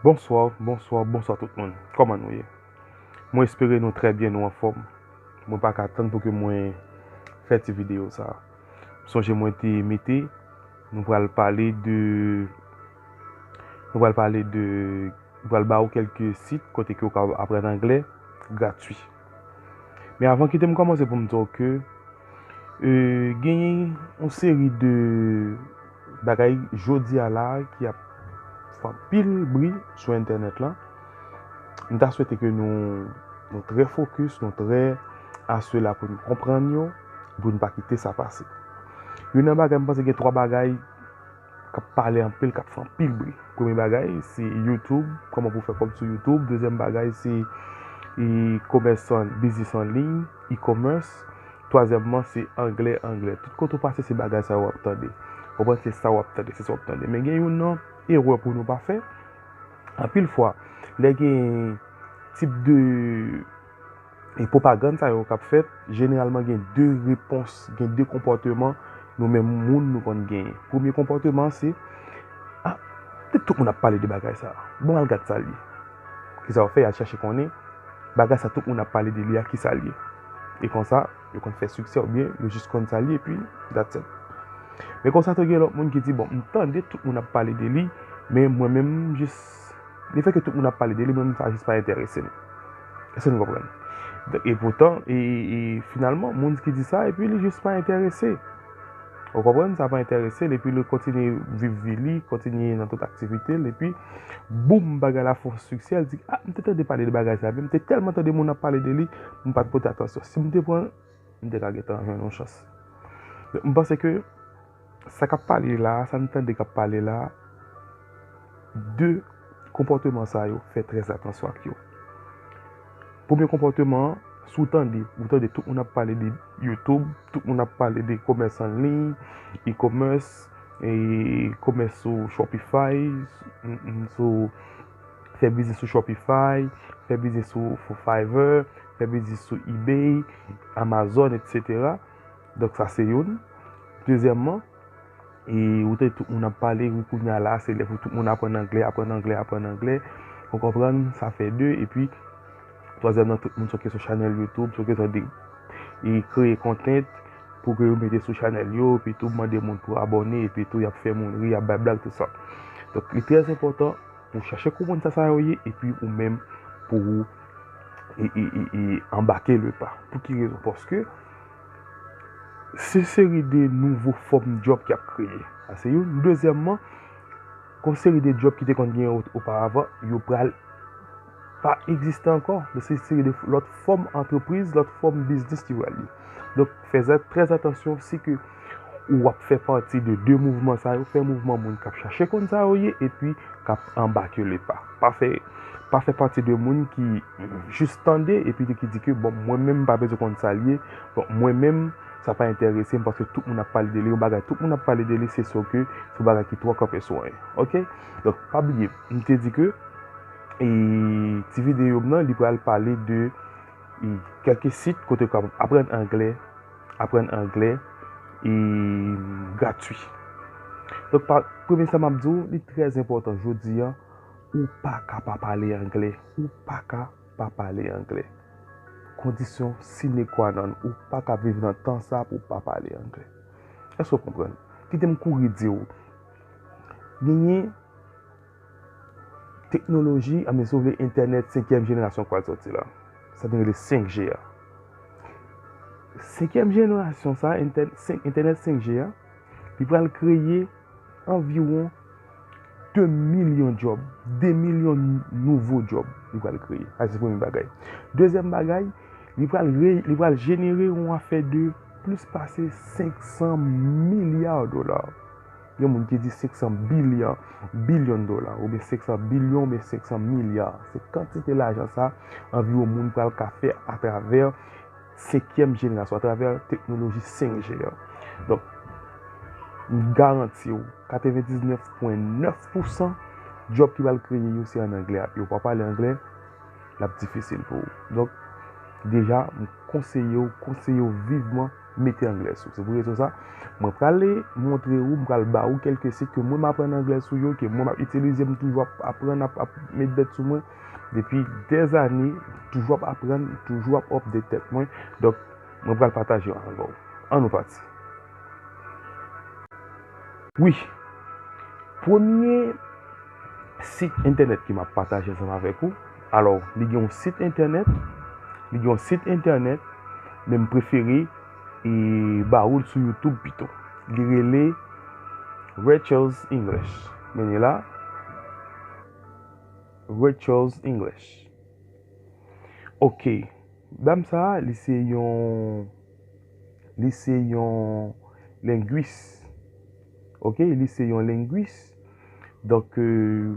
Bonswa bonswa bonswa tout moun kòman nou ye mwen espere nou trè byen nou anfòm mwen pa ka tann pou ke mwen fè ti videyo sa sonje mwen te mete nou pral pale de nou pral pale de nou pral ba ou kèlke sit kote ke ou ka aprann anglè gratwi. Men avan kite m kòmanse pou m di w ke genyen yon seri de bagay jodi a la ki ap fè anpil bri sou entènèt lan. M ta swete ke nou trè fokis, nou trè asela pou nou konprann yo, pou nou pa kite sa pase. Youn nan bagay, m panse gen twa bagay. kap pale anpil kap fè anpil bri premye bagay se youtube kòman pou fè kòb sou youtube dezyèm bagay se e komès an biznis an liy e komès twazyèmman se anglè anglè tout kote ou pase se bagay sa yo wap tande konprann se sa wap tande se sa wap tande men gen yon nan erè pou nou pa fè anpil fwa lè gen tip de E pwopagann sa yo k ap fèt, jeneralman gen de repons, gen de konpòteman nou menm moun nou konn genyen. Premye konpòteman an se, A! Pètèt tout moun ap pale de bagay sa a. Bon, al gad sa l ye. Ki sa yo fè? Y al chèche konnen bagay sa tout moun ap pale de li a, ki sa l ye. E konsa, yo konn fè siksè oubyen yo jis konn sa l ye epi that's it. Men konsa tou gen lòt moun ki di, Bon, m tande tout moun ap pale de li, men mwen menm m jis. Le fè ke tout moun ap pale de li, mwen menm sa jis pa enterese m. Eske nou konprann? E poutan, e finalman, moun ki di sa, epi li jis pa enterese. Ou konprann? Sa pa enterese li, epi li kontinye viv vi li, kontinye nan tout aktivite li, epi boum, bagay la fon siksè, li di, a, m te tande pale de bagay sa, men m te tèlman tande moun ap pale de li, m pa t pote atansyon. Si m te pran. M te ka gentan jwenn yon chans. M panse ke sa k ap pale la a, sa n tande k ap pale la a, de konpòteman sa yo, fè trè atansyon ak yo. Premye konpòteman an, si w tande, ou tande tout moun ap pale de YouTube, tout moun ap pale de komès an liy, e-commerce, e komès sou Shopify, sou. fè biznis sou Shopify, fè biznis sou Fiverr, fè biznis sou Ebay, Amazon, etc. Donk sa se youn. Dezyèmman, e ou te tout moun ap pale, ou koun ya la, se lè pou tout moun aprann anglè, aprann anglè, aprann anglè. Ou konprann? Sa fè de, epi. Twazyèm nan tout moun soke sou chanèl youtube soke tande e kreye content pou ke yo mete sou chanèl yo epi tou mande moun pou abòne epi tou yap fè moun ri yap bay blag tout sa donk li trè enpòtan pou chache konprann sa sa yo ye epi ou menm pou ou e anbake le pa pou ki rezon paske se seri de nouvo fòm djòb ki ap kreye sa se youn dezyèmman gon seri de djòb ki te konn genyen oparavan yo pral. pa egziste ankò, donk se seri de lòt fòm antrepriz, lòt fòm biznis ki pral ye. Donk fè trè atansyon si ke ou ap fè pati de de mouvman sa yo, fè mouvman moun k ap chache konn sa yo ye epi k ap anbake le pa. Pa fè pa fè pati de moun ki jis tande epi ki di ke bon mwen menm m pa bezwen konn sa l ye, bon mwen menm sa pa enterese m paske tout moun ap pale de li, yon bagay tout moun ap pale de li se sou ke se yon bagay ki twò kanpe sou anyen. Ok, donk pa bliye m te di ke. E ti videyo m nan li pral pale de kèlke sit kote ou kapab aprann anglè, aprann anglè e gratwi. Donk pa, premye sa m ap di w, li trè enpòtan jodi an, ou pa ka pa pale anglè, ou pa ka pa pale anglè. Kondisyon sine kwa nòn, ou pa ka viv nan tan sa pou w pa pale anglè. Èske w konprann? Kite m kouri di w, genyen. Teknoloji a men si w vle entènèt senkyèm jenerasyon pral sòti la. Sa nou rele 5G a. Senkyèm jenerasyon sa, entènèt 5G a, li pral kreye anviwon 2 milyon djòb. 2 milyon nouvo djòb li pral kreye. Sa se premye bagay. Dezyèm bagay, li pral jenere yon afè de plis pase 500 milya dola. Gen moun ki di 500 bilyan, bilyon dola, oubyen 500 bilyon oubyen 500 milya. Se kantite lajan sa anviwon moun pral ka fè atravè senkyèm jenerasyon, atravè teknoloji 5G a. Donk, m garanti w, 99 pwen 9 pousan djòb ki pral kreye yo se an anglè ap ye. Ou pa pale anglè, l ap difisil pou ou. Donk, deja, m konseye w, konseye w vivman. mete anglè sou. Se pou rezon sa, mwen pral montre ou, mwen pral ba ou kelke sit ke mwen m aprann anglè sou yo, ke mwen m ap itilize, m toujou ap aprann, ap met bèt sou mwen. Depi dèz ane, m toujou ap aprann, m toujou ap update tèt mwen. Donk, mwen pral pataje yo avè ou. An nou pati. Wi, premye sit entènèt ke m ap pataje ansanm avèk ou. Alò, li gen yon sit entènèt, li gen yon sit entènèt, men m prefere e ba ou l sou YouTube pito. Li rele Rachel's English. Men li la. Rachel's English. Ok. Dam sa, li se yon li se yon lengwis. Ok, li se yon lengwis. Donk, euh,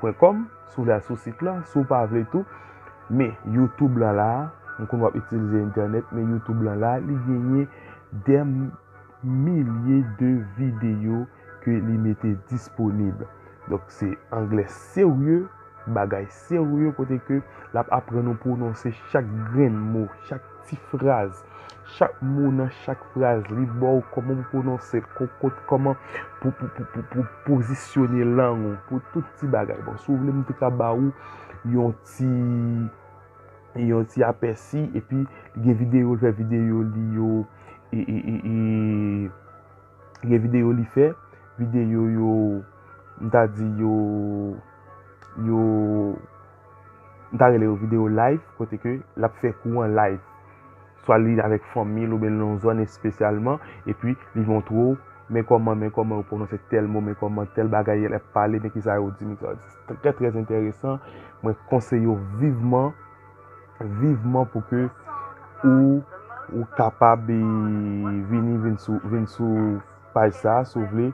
Pwen kòm, si w vle al sou sit la, si w pa vle tou, men youtube lan la, m konn w ap itilize entènèt, men youtube lan la, li genyen dè milye de videyo ke li mete disponib. Donk se anglè serye, bagay serye kote ke l ap aprann ou pwononse chak grenn mo, chak. Ti fraz. Chak mo nan chak fraz li ba w kòman pou pwononse l, kokot, kòman pou pozisyone lang ou, pou tout ti bagay. Bon, si w vle m te ka ba ou yon ti yon ti apèsi epi li gen videyo l fè, videyo li yo e e e e li gen videyo li fè, videyo yo m ta di yo yo. m ta rele yo video live kote ke lap fè kou an live. Swa li avèk fanmi l oubyen l nan yon zòn espesyalman epi li montre w men kòman men kòman yo pwononse tèl mo men kòman tèl bagay lè yap pale men kisa yo di men kisa yo di. Se trè trè enteresan mwen konseye w vivman vivman pou ke ou ou kapab vini vin sou vin sou paj sa si w vle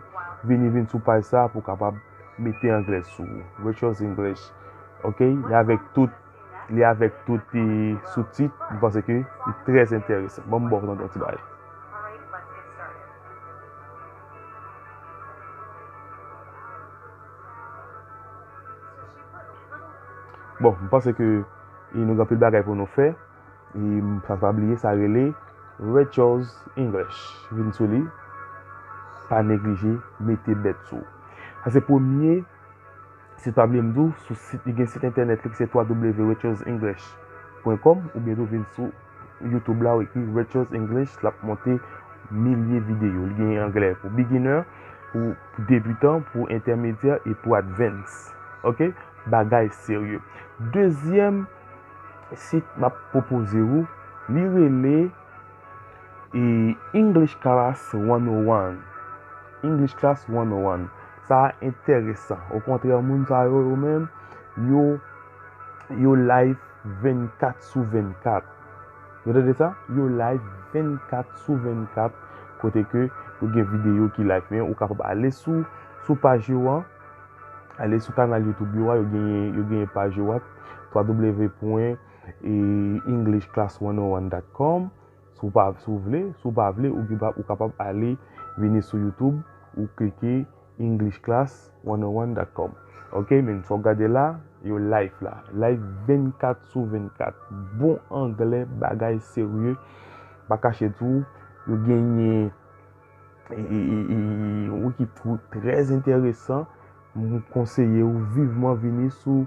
vini vin sou paj sa pou kapab mete anglè sou ou Rachel's English ok li avèk tout li avèk tout pi sou tit m panse ke li trè entèresan ban m ba w tande yon ti bagay bon m panse ke nou gen anpil bagay pou nou fè. E m sa pa bliye sa rele Rachel's English vin sou li pa neglije mete bèt sou. Sa se premye sit pa bliye m di w sou sit li gen sit entènèt li ki se www.rachel'senglish.com oubyen tou vin sou YouTube la ou ekri Rachel's English l ap monte milye videyo. Li gen anglè pou beginner, pou debutan, pou entèmedyè e pou advance. Ok, bagay serye. Dezyèm. sit map pwopoze ou li rele e English class 101 English class 101 sa enteresan okontrè moun sa yo yo menm yo yo live 24 sou 24 nou tande sa yo live 24 sou 24 kote ke yo gen videyo ki live men ou kapab ale sou sou paj yo an. Ale sou kanal YouTube yo a, yo genyen paj yo a, www.englishclass101.com Si w vle, si w pa vle, ou kapab ale vini sou YouTube, ou klike englishclass101.com Ok, men sa w gade la, yo live la. Live 24 sou 24. Bon anglè, bagay serye, pa kache tou, yo genyen. Yon ekip twoup trè enteresan. M konseye ou viveman vini sou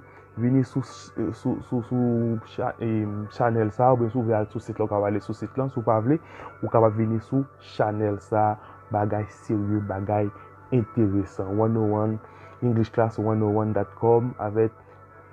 chanèl sa. Ou byen sou vle al sou sit la ou kapab ale sou sit la. Sou pa vle ou kapab vini sou chanèl sa. Bagay serye, bagay enteresan. 101 English Class 101.com avèk.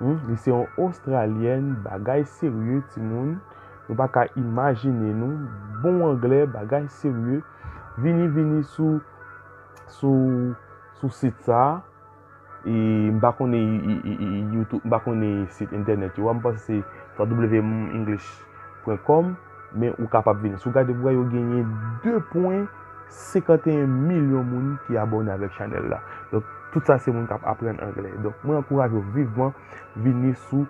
Humm li se yon ostralyèn bagay serye timoun nou pa ka imajine nou bon anglè bagay serye vini vini sou sou sou sit sa e m pa konnen youtube m pa konnen sit entènèt yo a m panse se www english pwen kòm men ou kapab vini. Si w gade, w wè yo genyen 2 pwen 51 milyon moun ki abòne avèk chanèl la. Donk, tout sa se moun k ap aprann anglè. Donk, mwen ankouraje w vivman vini sou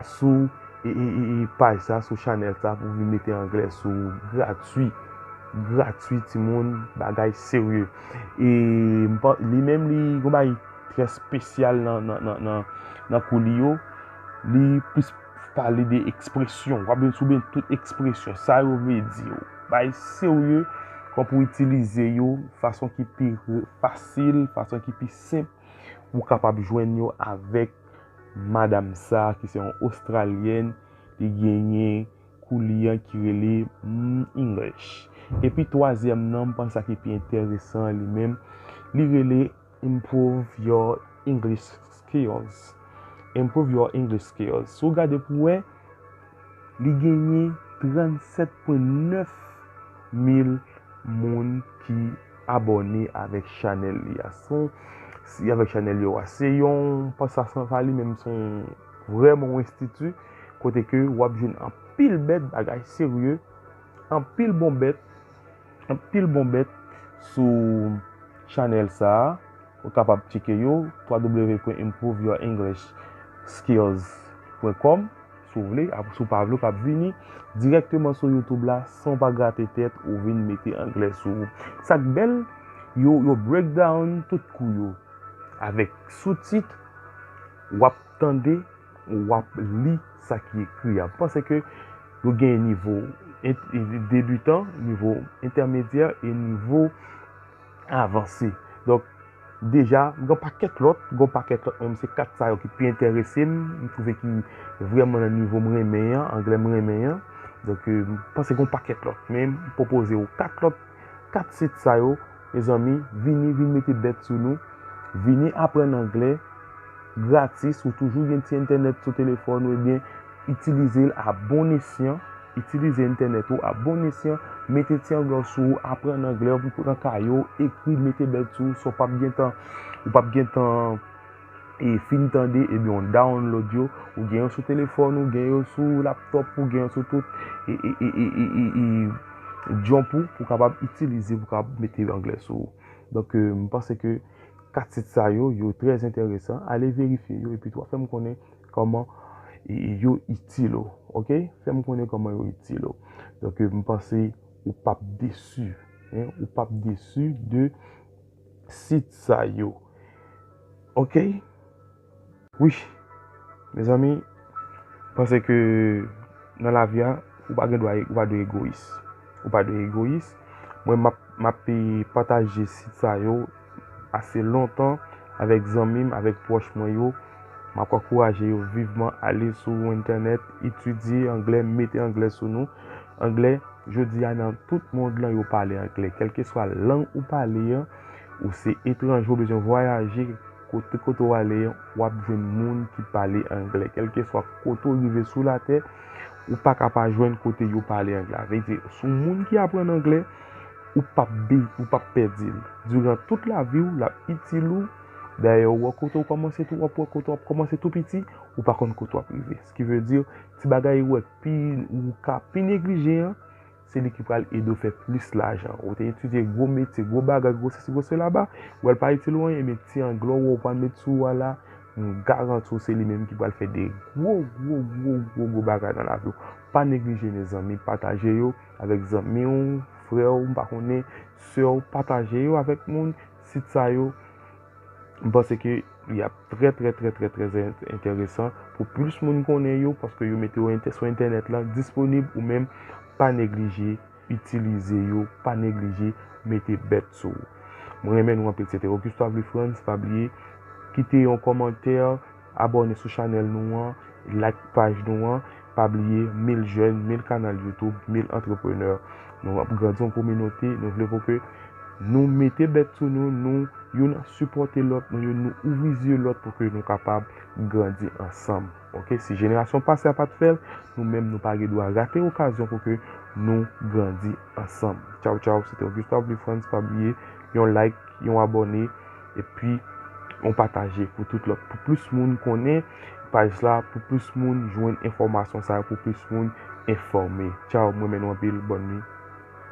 sou e, e, e, e paj sa, sou chanèl sa pou vin mete anglè sou ou gratwi. Gratwi ti moun, bagay serye. E, m pa, li menm li yon bagay trè spesyal nan, nan, nan, nan, nan kou li yo. Li plis. Pale de ekspresyon. W ap vin sou beny tout ekspresyon. Sa yo vle di yo. Bay serye. Kòman pou w itilize yo. Fason ki pi fasil. Fason ki pi senp. Ou kapab jwenn yo avèk madam sa ki se yon ostralyèn. Li genyen kou li an ki rele English. Epi twazyèm nan, m panse sa ki pi enteresan li menm. Li rele Improve your English skills. Improve your English skills. Si w gade pou wè, li genyen 37.9 mil moun ki abòne avèk chanèl li a. Son, si avèk chanèl yo a. Se yon, pa sa san sa li menm son vrèman yon enstiti kote ke w ap jwenn anpil bèt bagay serye, anpil bon bèt. Anpil bon bèt sou chanèl sa a ou kapab tcheke yo www.improveyourenglisskills.com si w vle apre si w pa vle w kab vini dirèkteman sou youtube la san w pa grate tèt ou vin mete anglè sou ou sa k bèl yo yo break down tout kou yo avèk soutit w ap tande Wap li sa ki ekri a. M panse ke yo gen nivo debutan, nivo entèmedyè e nivo avanse. Donk, deja, gen yon pakèt lòt, gen yon pakèt lòt men se 4 sa yo ki pi enterese m, m twouve ki vrèman nan nivo m renmen an, anglè m renmen an. Donk, m panse gen yon pakèt lòt men m pwopoze ou 4 lòt, 4 sit sa yo. Mezanmi vini vin mete bèt sou nou, vini aprann anglè gratis ou toujou gen ti entènèt sou telefòn ou ebyen itilize l a bon esyan, itilize entènèt ou a bon esyan, mete ti anglè w sou ou, aprann anglè, pran kaye w, ekri, mete bèt sou ou san w pap gentan, ou pap gentan. e fin tande ebyen w download yo ou gen yo sou telefòn ou gen yo sou laptop ou gen yo sou tout e e e e e e e jump ou pou kapab itilize pou kapab mete anglè sou ou donk m panse ke 4 sit sa yo yo trè enteresan ale verifye yo epi tou fè m konnen kòman e e yo itil ou ok fè m konnen kòman yo itil ou donk m panse ou pap desu ou pap desu de sit sa yo ok wi mezanmi panse ke nan lavi a ou pa gen dwa ou pa dwe egoyis ou pa dwe egoyis mwen map map pataje sit sa yo ase lontan avèk zanmi m avèk pwòch mwen yo map ankouraje yo viveman ale sou entènèt etidye anglè mete anglè sou nou. Anglè, Jodi a nan tout mond lan yo pale anglè. Kèlkeswa lang ou pale an, ou se etranje ou bezwen vwayaje, kote kote ou ale an, w ap jwenn moun ki pale anglè. Kèlkeswa kote ou rive sou latè, ou pa ka pa jwenn kote yo pale anglè. A vle di, si w moun ki aprann anglè, ou pap bi, ou pap pèdi l. Diran tout lavi w, l ap itil ou. Dayè, ou wè kote ou kòmanse tou, w ap wè kote w ap kòmanse tou piti, ou pa konn kote w ap rive. Skivedire, ti bagay ou wè. pi ou ka pi neglije an, se li ki pral ede w fè plis lajan. Ou te etidye gwo metye, gwo bagay, gwo sesi, gwo sela ba, ou wè l pa itil ou anyen, ebyen ti anglè ou wè ou pral met sou ou a la, m garanti w se li menm ki pral fè de gwo, gwo, gwo, gwo, gwo bagay nan lavi w. Pa neglije mezanmi, pataje yo avèk zanmi w, frè w, m pa konnen, sè w, pataje yo avèk moun, sit sa yo. M panse ke li ap trè trè trè trè trè enteresan pou plis moun konnen yo paske yo mete yo entè sou entènèt la disponib ou menm pa neglije itilize yo, pa neglije mete bèt sou ou. Mwen renmen nou anpil se te Augusto Avlefrantz pa bliye kite yon kòmantè. Abòne sou chanèl nou an, like paj nou an, pa bliye mil jèn, mil kanal YouTube, mil antreprenè. Nou ap grandi yon kominote, nou vle pou ke nou mete bèt sou nou, nou youn ap sipòte lòt, nou youn nou ouvri zye lòt pou ke nou kapab grandi ansanm. Ok, si jenerasyon pase a pat fèl, nou menm nou pa gen dwa rate okazyon pou ke nou grandi ansanm. Tchaw tchaw, se te Augusto Abreu Frantz, pa bliye yon like, yon abòne. Epi yon pataje pou tout lòt. Pou plis moun konnen paj la. Pou plis moun jwenn enfòmasyon sa yo. Pou plis moun enfòme. Tchaw m renmen nou anpil. Bòn nuit.